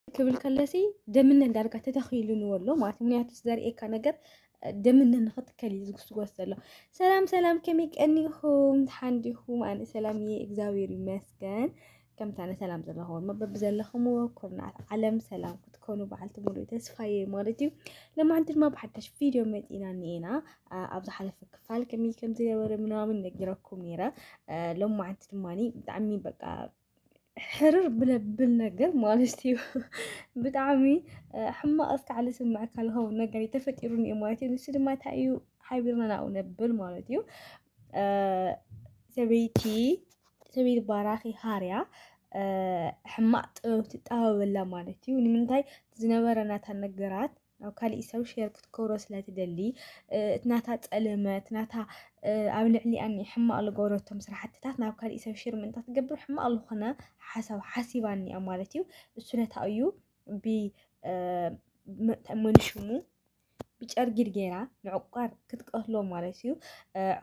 ክብል ከለሲ ደምነ ዳርጋ ተተኺሉንዎ ኣሎ ማለት ምክንያቱ ዘርእየካ ነገር ደምነ ንክትከል እዩ ዝጉስጎስ ዘሎ። ሰላም ሰላም፣ ከመይ ቀኒኹም ሓንዲኹም? ኣነ ሰላም እየ እግዚኣብሔር ይመስገን። ከምታ ኣነ ሰላም ዘለኹም መበብ ዘለኹምዎ ኩርናት ዓለም ሰላም ክትኮኑ በዓልቲ ሙሉእ ተስፋ እየ ማለት እዩ። ለማን ድማ ብሓደሽ ቪድዮ መፂና እኒኤና ኣብ ዝሓለፈ ክፋል ከመይ ከምዝነበረ ምናምን ነጊረኩም ነይረ። ሎማዓንቲ ድማ ብጣዕሚ በቃ ሕርር ብለብል ነገር ማለት እዩ ብጣዕሚ ሕማቕ እስካዕ ዝስምዐካ ዝኸውን ነገር እዩ ተፈጢሩኒ እዩ ማለት እዩ ንሱ ድማ እንታይ እዩ ሓቢርና ናብኡ ነብል ማለት እዩ ሰበይቲ ሰበይቲ ባራኺ ሃርያ ሕማቕ ጥበብ ትጠበበላ ማለት እዩ ንምንታይ ዝነበረ ናታ ነገራት ናብ ካሊእ ሰብ ሼር ክትገብሮ ስለ ትደሊ እቲ ናታ ጸለመ እቲ ናታ ኣብ ልዕሊኣ እኒኣ ሕማቕ ዝገበረቶም ስራሕትታት ናብ ካሊእ ሰብ ሼር ምእንቲ ክትገብር ሕማቕ ዝኾነ ሓሳብ ሓሲባ እኒኣ ማለት እዩ። እሱ ነታ እዩ ብ መን ሽሙ ብጨርጊድ ገይራ ንዕቋር ክትቀትሎ ማለት እዩ።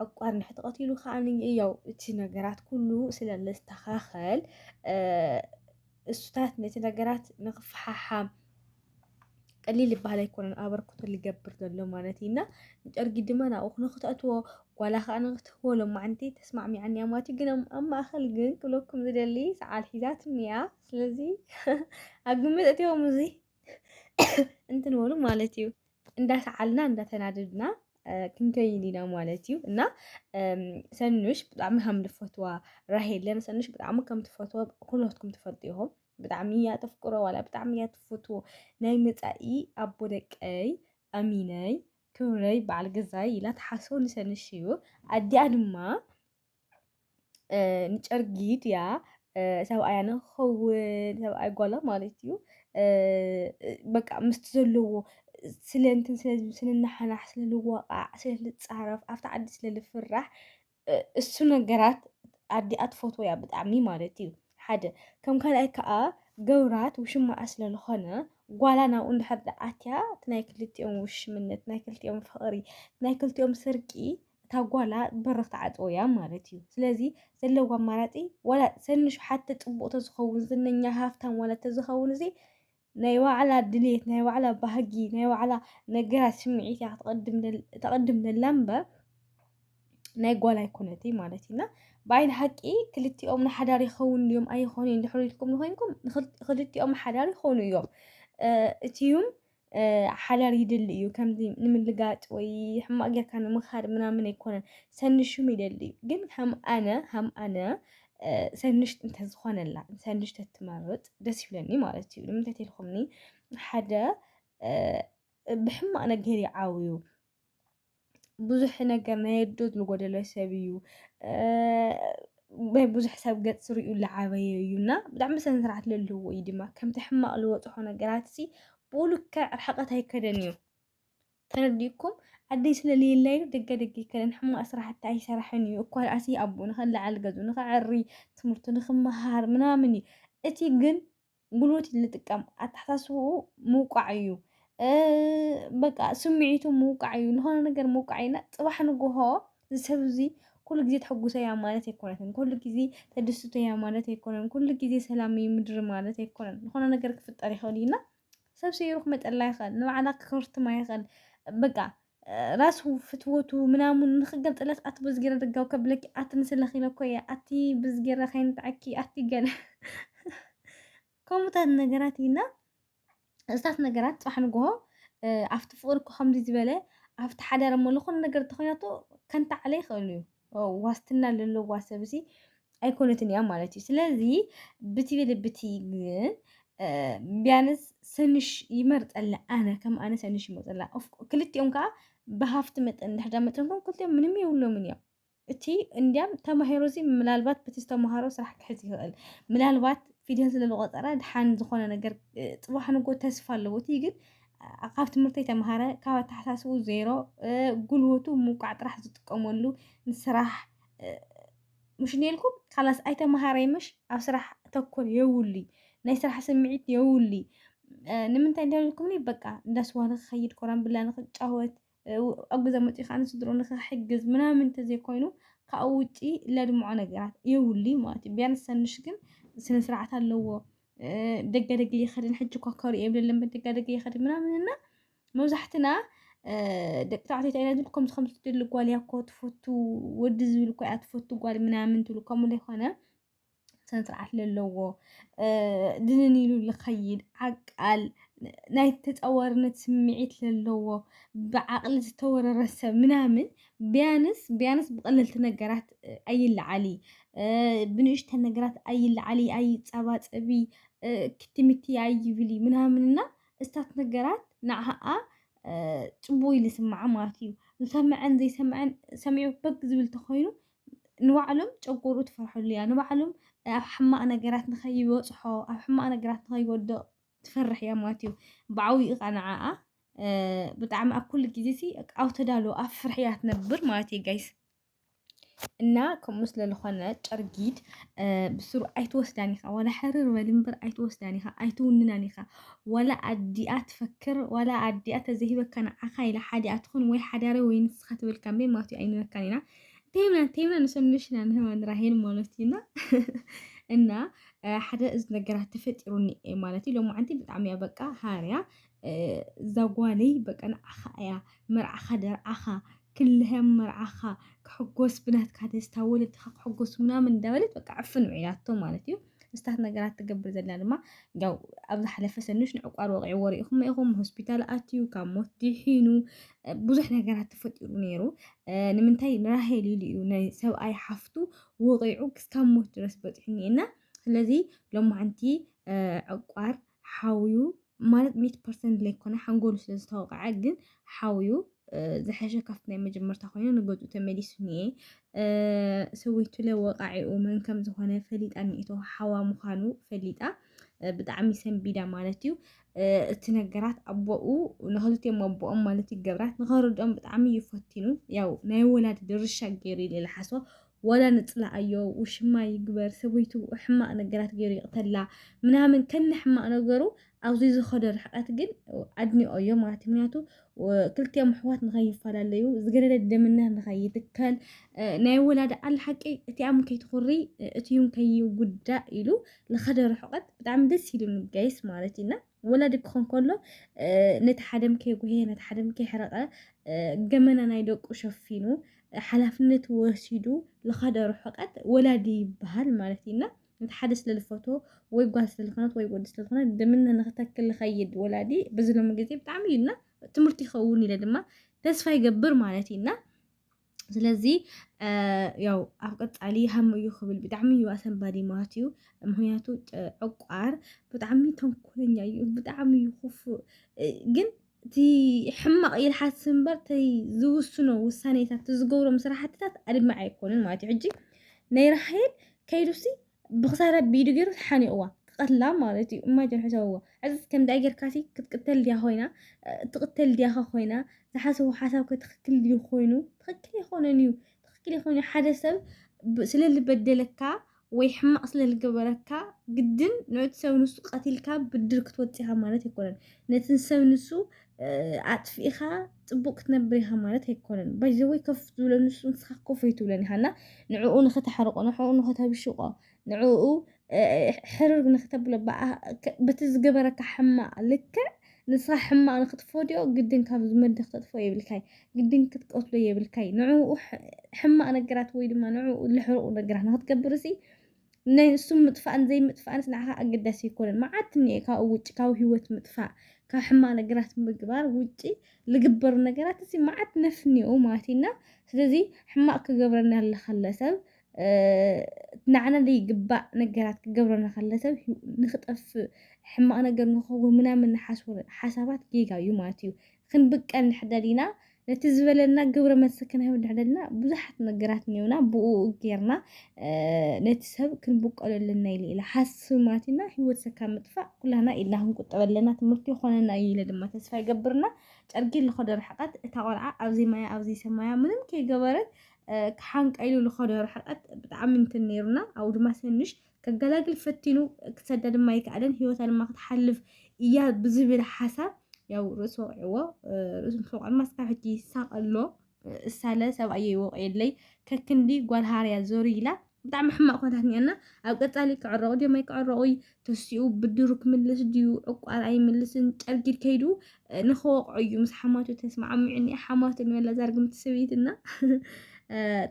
ዕቋር እንድሕር ተቐቲሉ ከዓ ያው እቲ ነገራት ኩሉ ስለ ዘስተኻኸል እሱታት ነቲ ነገራት ንክፈሓሓም ቀሊል ዝበሃል ኣይኮነን ኣበርክቶ ዝገብር ዘሎ ማለት እዩ እና ንጨርጊ ድማ ናብኡ ንክተእትዎ ጓላ ከዓ ንክትህቦ ሎማዓንቲ ተስማዕሚዓኒ እያ ማለት እዩ ግን ኣብ ማእኸል ግን ክብለኩም ዝደሊ ሰዓል ሒዛትኒ እያ ስለዚ ኣብ ግምት እትዎም እዚ እንትንበሉ ማለት እዩ እንዳሰዓልና እንዳተናደድና ክንከይን ኢና ማለት እዩ እና ሰኑሽ ብጣዕሚ ከም ዝፈትዋ ራሄለ ንሰኑሽ ብጣዕሚ ከም ትፈትዎ ኩሎትኩም ትፈልጡ ኢኹም ብጣዕሚ እያ ተፍቅሮ ዋላ ብጣዕሚ እያ ትፈትዎ ናይ መፃኢ ኣቦ ደቀይ ኣሚነይ ክብረይ በዓል ገዛይ ኢላ ትሓስቦ ንሰኑሽ እዩ ኣዲኣ ድማ ንጨርጊድ እያ ሰብኣያ ንክኸውን ሰብኣይ ጓላ ማለት እዩ በቃ ምስቲ ዘለዎ ስለንትን ስንናሓናሕ ስለልዋቓዕ ስለልፃረፍ ኣብቲ ዓዲ ስለልፍራሕ እሱ ነገራት ኣዲኣ ትፈትዎ እያ ብጣዕሚ ማለት እዩ ሓደ ከም ካልኣይ ከዓ ገብራት ውሽማኣ ስለልኾነ ጓላ ናብኡ እንድሕር ኣትያ እቲ ናይ ክልቲኦም ውሽምነት ናይ ክልቲኦም ፍቕሪ ናይ ክልቲኦም ስርቂ እታ ጓላ በሪ ክትዓጽዎ እያ ማለት እዩ። ስለዚ ዘለዎ ኣማራጺ ዋላ ሰንሹ ሓቲ ጽቡቕ ተዝኸውን ዝነኛ ሃፍታም ዋላ ተዝኸውን እዚ ናይ ባዕላ ድሌት ናይ ባዕላ ባህጊ ናይ ባዕላ ነገራት ስምዒት እያ ተቐድም ዘላ እምበር ናይ ጓል ኣይኮነትይ ማለት እዩና ብዓይኒ ሓቂ ክልቲኦም ንሓዳር ይኸውን ድዮም ኣይኾኑ እዮም ድሕሪ ኢልኩም ንኮይንኩም ክልቲኦም ሓዳር ይኾኑ እዮም እቲዩም ሓዳር ይድሊ እዩ ከምዚ ንምልጋጥ ወይ ሕማቅ ጌርካ ንምኻድ ምናምን ኣይኮነን ሰንሹም ይደሊ እዩ ግን ከም ኣነ ከም ኣነ ሰንሽ እንተዝኾነላ ሰንሽ ተትመርጥ ደስ ይብለኒ ማለት እዩ ንምንታይ ተልኩምኒ ሓደ ብሕማቅ ነገር ይዓውዩ ብዙሕ ነገር ናይ ኣዶ ዝጎደሎ ሰብ እዩ ናይ ብዙሕ ሰብ ገፅ ሪኡ ዝዓበየ እዩ እና ብጣዕሚ ስነ ስርዓት ዘለዎ እዩ ድማ ከምቲ ሕማቅ ዝወፅሖ ነገራት ሲ ብልክዕ ርሕቀት ኣይከደን እዩ ተረዲእኩም ዓደይ ስለለየላ እዩ ደገ ደገ ይከደን ሕማቅ ስራሕቲ ኣይሰራሕን እዩ እኳ ኣሲ ኣቦ ንኸለዓል ገዝኡ ንኸዐሪ ትምህርቱ ንኽመሃር ምናምን እዩ እቲ ግን ጉልበት እዩ ዝጥቀም ኣተሓሳስብኡ ምውቃዕ እዩ በቃ ስምዒቱ ምውቃዕ እዩ ዝኾነ ነገር ምውቃዕ እዩና ፅባሕ ንግሆ ዝሰብ እዚ ኩሉ ግዜ ተሐጉሰ እያ ማለት ኣይኮነትን ኩሉ ግዜ ተደስቶ እያ ማለት ኣይኮነን ኩሉ ግዜ ሰላም እዩ ምድሪ ማለት ኣይኮነን ዝኾነ ነገር ክፍጠር ይኽእል እዩና ሰብ ሰይሩ ክመፀላ ይኽእል ንባዕላ ክኸርትማ ይኽእል በቃ ራሱ ፍትወቱ ምናምን ንክገንጥለስ ኣቲ ብዝጌረ ድጋው ከብለኪ ኣቲ ንስለኺ ለኮየ ኣቲ ብዝጌረ ከይንጣዓኪ ኣቲ ገለ ከምኡታት ነገራት ኢና እዝታት ነገራት ፅባሕ ንግሆ ኣብቲ ፍቅሪ እኮ ከምዚ ዝበለ ኣብቲ ሓዳር እሞ ዝኾነ ነገር ተኾይናቶ ከንታዓለ ይኽእል እዩ ዋስትና ለለዋ ሰብሲ ኣይኮነትን እያ ማለት እዩ። ስለዚ ብቲ ብልብቲ ግን ቢያንስ ሰንሽ ይመርፀላ ኣነ ከም ኣነ ሰንሽ ይመርፀላ። ክልቲኦም ከዓ ብሃፍቲ መጠን እንድሕዳ መጠንኩም ክልቲኦም ምንም የብሎምን እዮም። እቲ እንዲያም ተማሂሮ እዚ ምናልባት በቲ ዝተምሃሮ ስራሕ ክሕዝ ይኽእል ምናልባት ፊደል ስለዝቆፀረ ድሓን ዝኾነ ነገር ፅባሕ ንጎ ተስፋ ኣለዎ እቲ ግን ካብ ትምህርቲ የተመሃረ ካብ ኣተሓሳስቡ ዜሮ ጉልበቱ ምውቃዕ ጥራሕ ዝጥቀመሉ ንስራሕ ምሽ ነልኩም ካላስ ኣይተመሃረይ ምሽ ኣብ ስራሕ ተኮር የውሉይ ናይ ስራሕ ስምዒት የውሉይ ንምንታይ እንተልኩምኒ በቃ እንዳስዋ ንክኸይድ ኮራን ብላ ንክጫወት ኣብ ገዛ መፂኡ ከዓ ንስድርኡ ንክሕግዝ ምናምን እንተዘይኮይኑ ካብኡ ውጪ ለድምዖ ነገራት የብሉይ ማለት እዩ ቢያንስ ሰኑሽ ግን ስነ ስርዓት ኣለዎ ደገ ደገ ይኸድን ሕጂ እኳ ከሪኦ የብለለን ደጋ ደገ ይኸድን ምናምን እና መብዛሕትና ደቂ ተባዕትዮ እንታይ ኢና ከምዚ ከምዚ ትደሊ ጓል እያ እኮ ትፈቱ ወዲ ዝብል እኳ እያ ትፈቱ ጓል ምናምን ትብሉ ከምኡ ዘይኮነ ስነስርዓት ለለዎ ድንን ኢሉ ዝኸይድ ዓቃል ናይ ተፃዋርነት ስምዒት ለለዎ ብዓቕሊ ዝተወረረ ሰብ ምናምን ቢያንስ ቢያንስ ብቐለልቲ ነገራት ኣይለዓሊ ብንእሽተን ነገራት ኣይለዓሊ ኣይፀባፀቢ ክትምቲ ኣይብሊ ምናምን እና እስታት ነገራት ንዓኣ ፅቡቕ ኢሉ ይስምዓ ማለት እዩ። ዝሰምዐን ዘይሰምዐን ሰሚዑ በክ ዝብል ተኾይኑ ንባዕሎም ጨጎሩ ትፈርሐሉ እያ ንባዕሎም ኣብ ሕማቅ ነገራት ንከይበጽሖ ኣብ ሕማቅ ነገራት ንከይወድቅ ትፈርሕ እያ ማለት እዩ ብዓብኡ ከዓ ንዓኣ ብጣዕሚ ኣብ ኩሉ ግዜ ሲ ኣብ ተዳሎ ኣብ ፍርሒ እያ ትነብር ማለት እዩ ጋይስ እና ከምኡ ስለ ዝኾነ ጨርጊድ ብስሩ ኣይትወስዳን ኢኻ ዋላ ሕርር በል እምበር ኣይትወስዳን ኢኻ ኣይትውንናን ኢኻ ዋላ ኣዲኣ ትፈክር ዋላ ኣዲኣ ተዘሂበካ ንዓኻ ኢላ ሓዲኣ ትኹን ወይ ሓዳሪ ወይ ንስኻ ትብል ካምበይ ማለት እዩ ኣይንበካን ኢና ቴምና ቴምና ንሰንሽና ንህመን ራሄል ማለት እዩና እና ሓደ እዚ ነገራት ተፈጢሩኒ ማለት እዩ ሎም ዓንቲ ብጣዕሚ እያ በቃ ሃርያ እዛ ጓለይ በቃ ንዓኻ እያ መርዓኻ ደርዓኻ ክልህም መርዓኻ ክሕጎስ ብናትካ ደስታ ወለድኻ ክሕጎስ ምናምን እንዳበለት በቃ ዕፍን ውዒላቶ ማለት እዩ ምስታት ነገራት ትገብር ዘላ ድማ ያው ኣብ ዝሓለፈ ሰኑሽ ንዕቋር ወቂዕዎ ሪኢኹም ኢኹም ሆስፒታል ኣትዩ ካብ ሞት ድሒኑ ብዙሕ ነገራት ተፈጢሩ ነይሩ ንምንታይ ንራሄል ኢሉ እዩ ናይ ሰብኣይ ሓፍቱ ወቂዑ ክስካብ ሞት ድረስ በፂሑኒ እና ስለዚ ሎማዓንቲ ዕቋር ሓውዩ ማለት ሚት ፐርሰንት ለይኮነ ሓንጎሉ ስለ ዝተወቕዐ ግን ሓውዩ ዝሐሸ ካብቲ ናይ መጀመርታ ኮይኑ ንገፁ ተመሊሱ ኒኤ ሰወይቱለ ወቃዒኡ መን ከም ዝኾነ ፈሊጣ ኒኤቶ ሓዋ ምዃኑ ፈሊጣ ብጣዕሚ ሰንቢዳ ማለት እዩ እቲ ነገራት ኣቦኡ ንክልቲኦም ኣቦኦም ማለት ይገብራት ንኸርድኦም ብጣዕሚ ይፈቲኑ ያው ናይ ወላዲ ድርሻ ገይሩ ኢለ ልሓስቦ ዋላ ንጽላኣዮ ውሽማ ይግበር ሰበይቱ ሕማቅ ነገራት ጌሩ ይቅተላ ምናምን ከነ ሕማቅ ነገሩ ኣብዚ ዝኸዶ ርሕቀት ግን ኣድኒቆዮ ማለት እዩ ምክንያቱ ክልቲኦም ኣሕዋት ንኸይፈላለዩ ዝገደደ ደምነት ንኸይትከል ናይ ወላዳ ኣል ሓቂ እቲኣም ከይትኹሪ እቲዩም ከይጉዳእ ኢሉ ዝኸደ ርሕቀት ብጣዕሚ ደስ ኢሉኒ ጋይስ ማለት እዩና ወላዲ ክኾን ከሎ ነቲ ሓደም ከይጉህየ ነቲ ሓደም ከይሕረቐ ገመና ናይ ደቁ ሸፊኑ ሓላፍነት ወሲዱ ልኻደ ርሑቀት ወላዲ ይበሃል ማለት እዩና ነቲ ሓደ ስለ ዝፈቶ ወይ ጓል ስለ ዝኾነት ወይ ወዲ ስለ ዝኾነ ድምነ ንክተክል ዝኸይድ ወላዲ በዚ ሎሚ ግዜ ብጣዕሚ እዩና ትምህርቲ ይኸውን ኢለ ድማ ተስፋ ይገብር ማለት እዩና ስለዚ ያው ኣብ ቀፃሊ ሃም እዩ ክብል ብጣዕሚ እዩ ኣሰንባዲ ማለት እዩ ምክንያቱ ዕቋር ብጣዕሚ ተንኮለኛ እዩ ብጣዕሚ እዩ ክፉእ ግን እቲ ሕማቕ እዩ ዝሓስብ እምበር እቲ ዝውስኖ ውሳኔታት እቲ ዝገብሮም ስራሕትታት ኣድማዒ ኣይኮነን ማለት እዩ ሕጂ ናይ ራሄል ከይዱሲ ብክሳራ ብኢዱ ገይሩ ሓኒቕዋ ክቐትላ ማለት እዩ ኢማጅን ሕሰብዎ ሕዚ ከምዚኣ ጌርካሲ ክትቅተል ድያ ኮይና ትቕተል ድያኸ ኮይና ዝሓሰቡ ሓሳብከ ትኽክል ድዩ ኮይኑ ትኽክል ኣይኮነን እዩ ትኽክል ኣይኮነ ሓደ ሰብ ስለ ዝበደለካ ወይ ሕማቕ ስለ ዝገበረካ ግድን ነቲ ሰብ ንሱ ቀቲልካ ብድር ክትወፅኻ ማለት ኣይኮነን ነቲ ሰብ ንሱ ኣጥፊእኻ ፅቡቅ ክትነብር ኢኻ ማለት ኣይኮነን ባይዘወይ ከፍ ዝብሎ ንሱ ንስኻ ኮፍ ኣይትብሎን ኢኻ እና ንዕኡ ንኸተሕርቆ ንዕኡ ንኸተብሽቆ ንዕኡ ሕርር ንክተብሎ በቲ ዝገበረካ ሕማቅ ልክዕ ንስኻ ሕማቅ ንክትፈድዮ ግድን ካብ ዝመድኽ ተጥፎ የብልካይ ግድን ክትቀትሎ የብልካይ ንዕኡ ሕማቅ ነገራት ወይ ድማ ንዕኡ ልሕርቁ ነገራት ንክትገብር ሲ ናይ ንሱ ምጥፋእን ዘይምጥፋእንስ ንዓኻ ኣገዳሲ ኣይኮነን። መዓት እኒኤ ካብኡ ውጪ ካብ ህይወት ምጥፋእ ካብ ሕማቕ ነገራት ምግባር ውጪ ልግበሩ ነገራት እሲ መዓት ነፍ እኒኦ ማለት እዩ እና ስለዚ ሕማቕ ክገብረና ለኸለ ሰብ ንዓና ዘይግባእ ነገራት ክገብረና ከለ ሰብ ንክጠፍእ ሕማቕ ነገር ንክኸውን ምናምን ንሓስቦ ሓሳባት ጌጋ እዩ ማለት እዩ። ክንብቀል ንሕደል ኢና ነቲ ዝበለና ግብረ መልሲ ክንህብ ንሕደል ኢና ብዙሓት ነገራት እኒኡና ብኡ ጌርና ነቲ ሰብ ክንብቀሎ ኣለና ኢለ ኢለ ሓስማት ኢና ህይወት ሰካ ምጥፋእ ኩላና ኢድና ክንቁጠብ ኣለና ትምህርቲ ይኾነና እዩ ኢለ ድማ ተስፋ ይገብርና ጨርጊ ልኸዶ ርሕቀት እታ ቆልዓ ኣብዚ ማያ ኣብዚ ሰማያ ምንም ከይገበረት ክሓንቀይሉ ልኸዶ ርሕቀት ብጣዕሚ እንትን ነይሩና ኣብኡ ድማ ሰንሽ ከገላግል ፈቲኑ ክሰዳ ድማ ኣይከኣለን ህይወታ ድማ ክትሓልፍ እያ ብዝብል ሓሳብ ያው ርእሱ ወቂዕዎ ርእሱ ምስ ወቅዐ ድማ ስካብ ሕጂ ይሳቅ ኣሎ እሳለ ሰብኣየ ይወቂየለይ ከክንዲ ጓል ሃርያ ዞር ኢላ ብጣዕሚ ሕማቅ ኮታት ኒኣና ኣብ ቀጻሊ ክዕረቁ ድዮም ኣይክዕረቁ ተሲኡ ብድሩ ክምልስ ድዩ ዕቋር ኣይምልስን ጨርጊድ ከይዱ ንክወቅዑ እዩ ምስ ሓማቱ ተስማዕሚዑኒ ሓማቱ ንበላ ዛርግምቲ ሰበይትና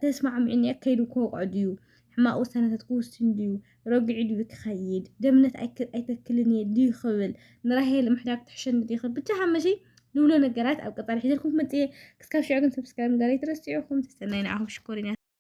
ተስማዕሚዑኒ ከይዱ ክወቅዑ ድዩ ሕማቕ ውሳነታት ክውስን ድዩ? ረጒዑ ድዩ ክኸይድ? ደምነት ኣይተክልን እየ ድዩ ክብል? ንራሄል ምሕዳግ ትሕሸኒ ድዩ ክብል? ብቻ ሓመሸይ ንብሎ ነገራት ኣብ ቀጻሊ ሒዘልኩም ክመጽእ እየ። ክስካብ ሽዑ ግን ሰብስክራይብ ምግባር ኣይትረስዑ። ኩምቲ ሰናይ ንዓኹም ሽኮሪናት።